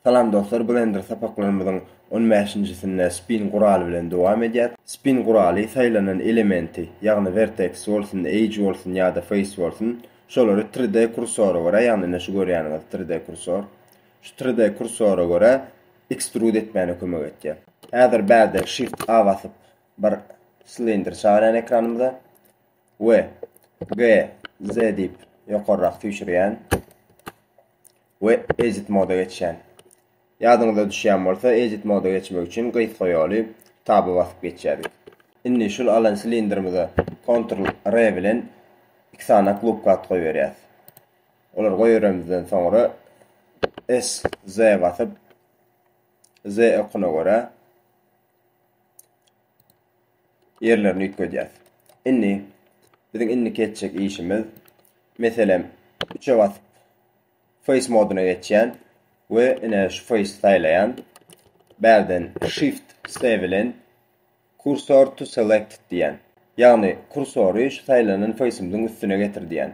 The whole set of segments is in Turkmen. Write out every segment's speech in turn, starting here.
Salam dostlar Blender sapaklarymyzyň on bäşinjisinde Spin guraly bilen dowam edýäs. Spin guraly saýlanan elementi, ýagny vertex bolsun, edge bolsun ýa-da face bolsun, şolary tri d kursora görä, ýagny ine şu görýäniňiz tri d kursor, şu tri d kursora görä extrude etmäne kömek etýär. Häzir bärde shift a basyp bir slender çagyrýan ekranymyza we g z diýip ýokarrak süýşürýän. we edit moda geçýän. Ýadyňyza düşýän bolsa, edit moda geçmek üçin gysga ýoly taba basyp geçýärdik. Indi şul alan silindrimize Ctrl R bilen iki sany klubka at goýberýäs. Olar goýberemizden soňra S Z basyp Z okuna görä ýerlerini üýtgedýäs. Indi biziň indiki etjek işimiz meselem üçe basyp face modyna geçýän we ine şu face saýlaýan. Bärden shift C bilen cursor to select diýen. Ýagny kursory şu saýlanan face'imiziň üstüne getir diýen.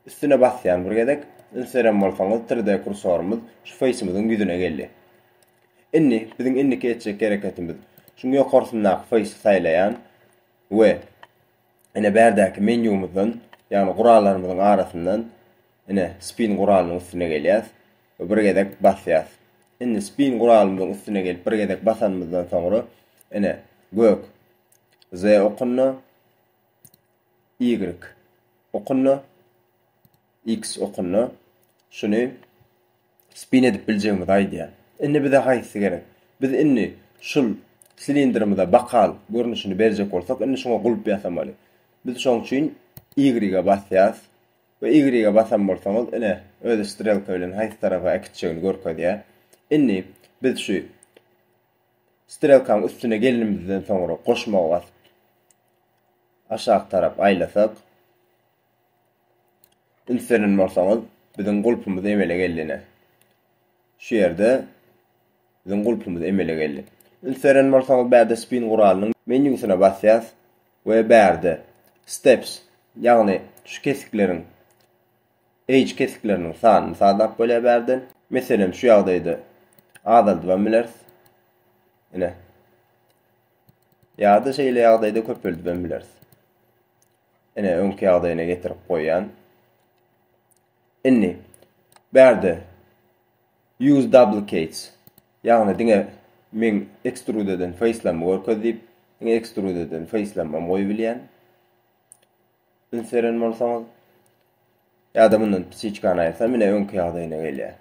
Üstüne basýan bir gezek, üns beren bolsaňyz 3D kursorymyz şu face'imiziň ýüzüne geldi. Indi biziň indiki etjek hereketimiz şuň ýokarsyndaky faýsy saýlaýan we ine bärdäki menýumyzdan ýagny gurallarymyzyň arasyndan ine spin guralynyň üstüne gelýäs we bir gezek basýas. Indi spin guralymyzyň üstüne gelip bir gezek basanymyzdan soňra ine gök Z okunda Y okunda X okunda şuny spin edip biljegimizi aýdýar. Indi bize haýsy gerek? Biz indi şul silindrimize bakal görnüşini berjek bolsak, indi şuňa gulp ýasamaly. Biz şoň üçin Y-e basýas we Y-e basan bolsaňyz, ine, özi strelka bilen haýsy tarapa äkitjegini görkezýär. Indi biz şu strelkaň üstüne gelinimizden soňra goşmagy basyp aşak tarap aýlasak, Üns beren bolsaňyz, biziň gulpumyz emele geldi ine. Şu ýerde biziň gulpumyz emele geldi. Üns beren bolsaňyz, bärde spin guralynyň menýusyna basýas we bärde steps, ýagny şu kesikleriň edge kesikleriniň sanyny sazlap bolýar bärden. Meselem, şu ýagdaýda azaldybam bileris. Ine. Ýa-da şeýle ýagdaýda köpeldibem bileris. Ine, öňki ýagdaýyna getirip goýýan. Indi bärde use duplicates, ýagny diňe men extrude eden facelammy görkez diýip, diňe extrude eden facelammy goýup bilýän. Üns beren bolsaňyz, ýa-da mundan psiçkany aýyrsam, ine öňki ýagdaýyna gelýär.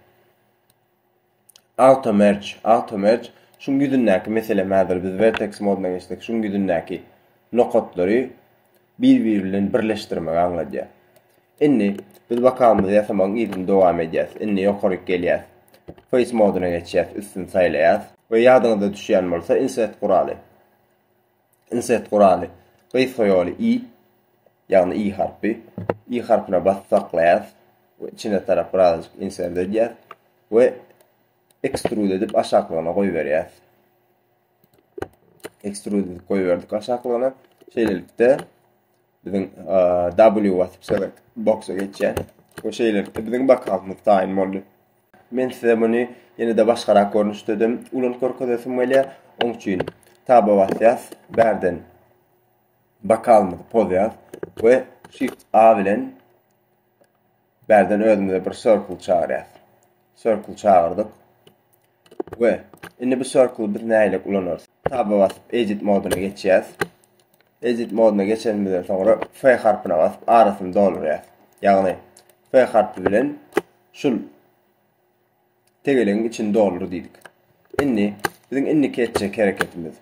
Auto merge, auto merge şuň ýüzündäki meselem häzir biz vertex modyna geçsek şuň ýüzündäki nokatlary bir biri bilen birleşdirmegi aňladýar. Indi biz wakalymyzy ýasamagyň yzyny dowam edýäs. Indi ýokaryk gelýäs. Face modyna geçýäs, üstüni saýlaýas we ýadyňyzda düşýän bolsa insert guraly. Insert guraly. Gysga ýoly i, ýagny i harpy. I harpyna basyp saklaýas we içine tarap birazajyk insert edýäs we extrude edip aşaklygyna goýberýäs. Extrude edip goýberdik aşaklygyna. Şeýlelikde Biziň W basyp select boksa geçýär. Bu şeýlelikde biziň bakalymyz taýyn boldy. Men size muny ýene-de başgarak görnüşde de ulan görkezesim gelýär. Oň üçin tab basýas, bärden bakalymyzy pozýas we shift A bilen Bärden özümize bir circle çagyrýas. Circle çagyrdyk. We indi bu circle biz nähili ulanarys? Taba basyp edit modyna geçýäs. Edit modyna geçenimizden soňra F harpyna basyp arasyny doldurýas. Ýagny F harpy bilen şul tegelegiň içini doldur diýdik. Indi biziň indiki etjek hereketimiz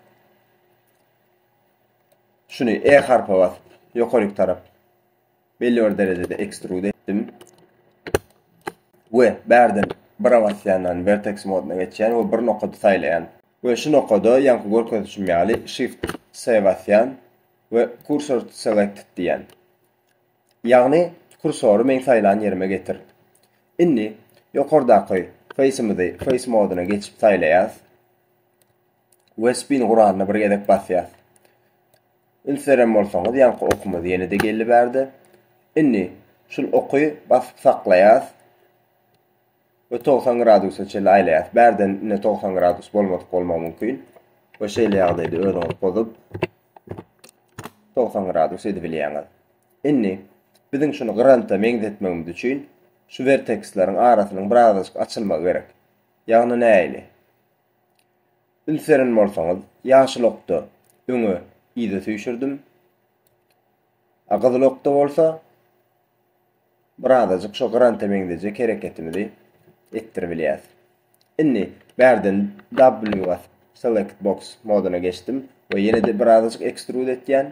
şuny E harpa basyp ýokaryk tarap belli bir derejede ekstrud etdim. We bärden bira basýandan vertex modyna geçýän we bir nokady saýlaýan. We şu nokada ýaňky görkezişim ýaly shift S basýan we cursor to selected diýýän. Ýagny kursory meň saýlan ýerime getir. Indi ýokardaky face-imizi face modyna geçip saýlaýas. we spin guralyna bir gezek basýas. Üns beren bolsaňyz, ýaňky okumyz ýene-de geldi bärde. Indi şul oky basyp saklaýas we 90 gradusa çenli aýlaýas. Bärden indi 90 gradus bolmadyk bolmagy mümkin. We şeýle ýagdaýda özüňiz pozup 90 gradus edip bilýäňiz. Indi biziň şuny granta meňzetmegimiz üçin şu verteksleriň arasynyň birazajyk açylmagy gerek. Ýagny näili? Üns beren bolsaňyz, ýaşyl okda öňe, yza süýşürdim. A gyzyl okda bolsa birazajyk şo granta meňzejek hereketimizi etdiribilýäs. Indi bärden W basyp select box moduna geçdim we ýene-de birazajyk ekstrud etýän.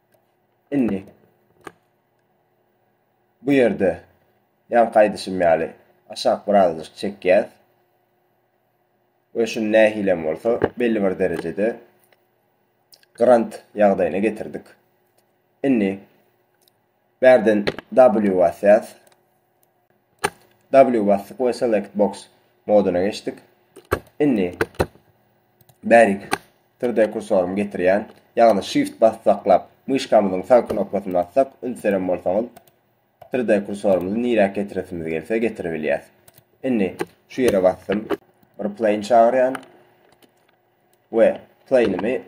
Indi bu ýerde ýaňky aýdyşym ýaly aşak birazajyk çekýäs. We şuny nähilem bolsa belli bir derejede grant ýagdaýyna getirdik. Indi bärden W basýas. W basdyk we select box moduna geçdik. Indi bärik türde kursorymy getirýän, ýagny shift bassaklap, myşkamyzyň sag knopkasyny bassak, ünseren bolsaňyz, türde kursorymyzy nirä getiresimiz gelse getirip bilýäs. Indi şu ýere basdym. Bir plane çagyrýan we plane'imi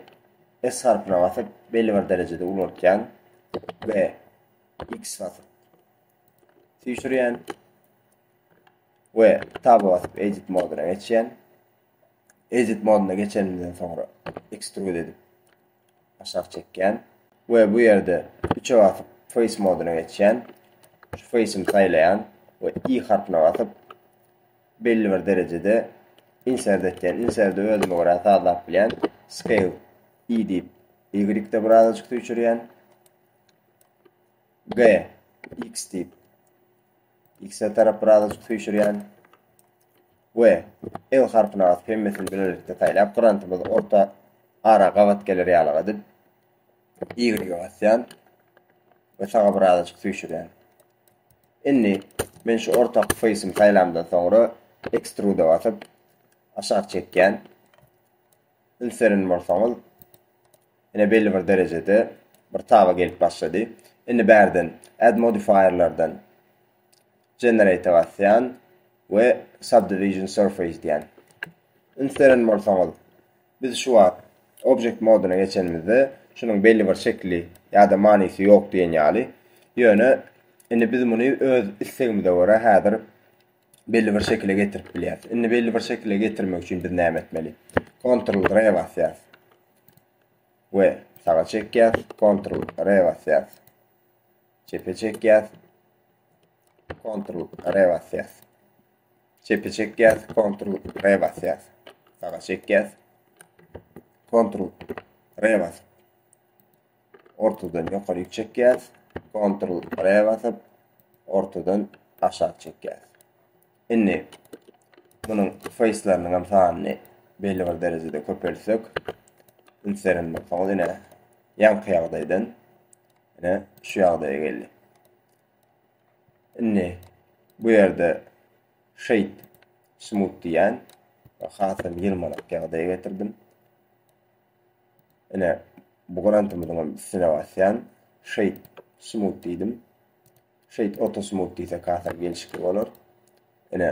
S harpyna basyp belli bir derejede ulaltýan we X basyp süýşürýän we taba basyp edit moduna geçýän. Edit moduna geçenimden soňra extrude edip aşak çekýän we bu ýerde üçe basyp face moduna geçýän. Şu face-imi saýlaýan we i harpyna basyp belli bir derejede insert etýän. Insert özüme görä sazlap bilýän. Scale i diýip y-de birazajyk süýşürýän. G. X diýip. X-e tarap birazajyk süýşürýän. We L harpyny asyp hemmesini bilelikde saýlap grantymyz orta ara gabat geler ýalyk edip Y-e basýan we saga birazajyk süýşürýän. Indi men şu orta face'imi saýlamdan soňra extrude basyp aşak çekýän. üns beren bolsaňyz, ine belli bir derejede bir taba gelip başlady. Indi bärden add modifierlerden generate basýan we subdivision surface diýen. Üns beren bolsaňyz, biz şu wagt object moduna geçenimizde şunuň belli bir şekli ýa-da manysy ýok diýen ýaly. Ýöne indi biz muny öz islegimize görä häzir belli bir şekile getirip bilýäris. Indi belli bir şekile getirmek üçin biz näme etmeli? Ctrl R basýas. We saga çekýäs, Ctrl R basýas. Çepe çekýäs. Ctrl R basýas. Çepe çekýäs, Ctrl R basýas. Saga çekýäs. Ctrl R basýas. ortadan ýokaryk çekýäs. Ctrl R basyp, ortadan aşak çekýäs. Indi munuň face'larynyň hem sanyny belli bir derejede köpeltsek, ünslerin bolsaňyz ine ýaňky ýagdaýdan ine şu ýagdaýa geldi. Indi bu ýerde shade smooth diýen hasam ýylmanak ýagdaýa getirdim. Ine, bu grantymyzyň hem üstüne basýan. Şeýt smut diýdim. Şeýt auto smut diýsek hasam gelşikli bolar. Ine.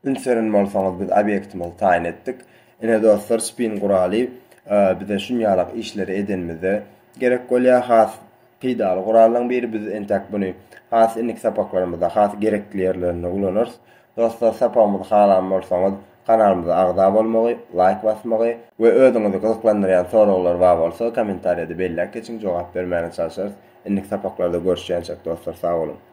Ünseren bolsaňyz biz obýektimizi taýyn etdik. Ine dostlar, spin guraly e, bize şunýalak işleri edenimizde gerek bolýar. Has Peýdaly gurallaň biri biz entäk buny has innik sapaklarymyzda has gerekli ýerlerinde ulanarys. Dostlar sapagymyzy halan bolsaňyz kanalymyza agza bolmagy, laýk basmagy we özüňizi gyzyklandyrýan soraglar bar bolsa kommentariýada belläp geçiň jogap bermäne çalşarys. Innik sapaklarda görüşýänçek dostlar sag boluň.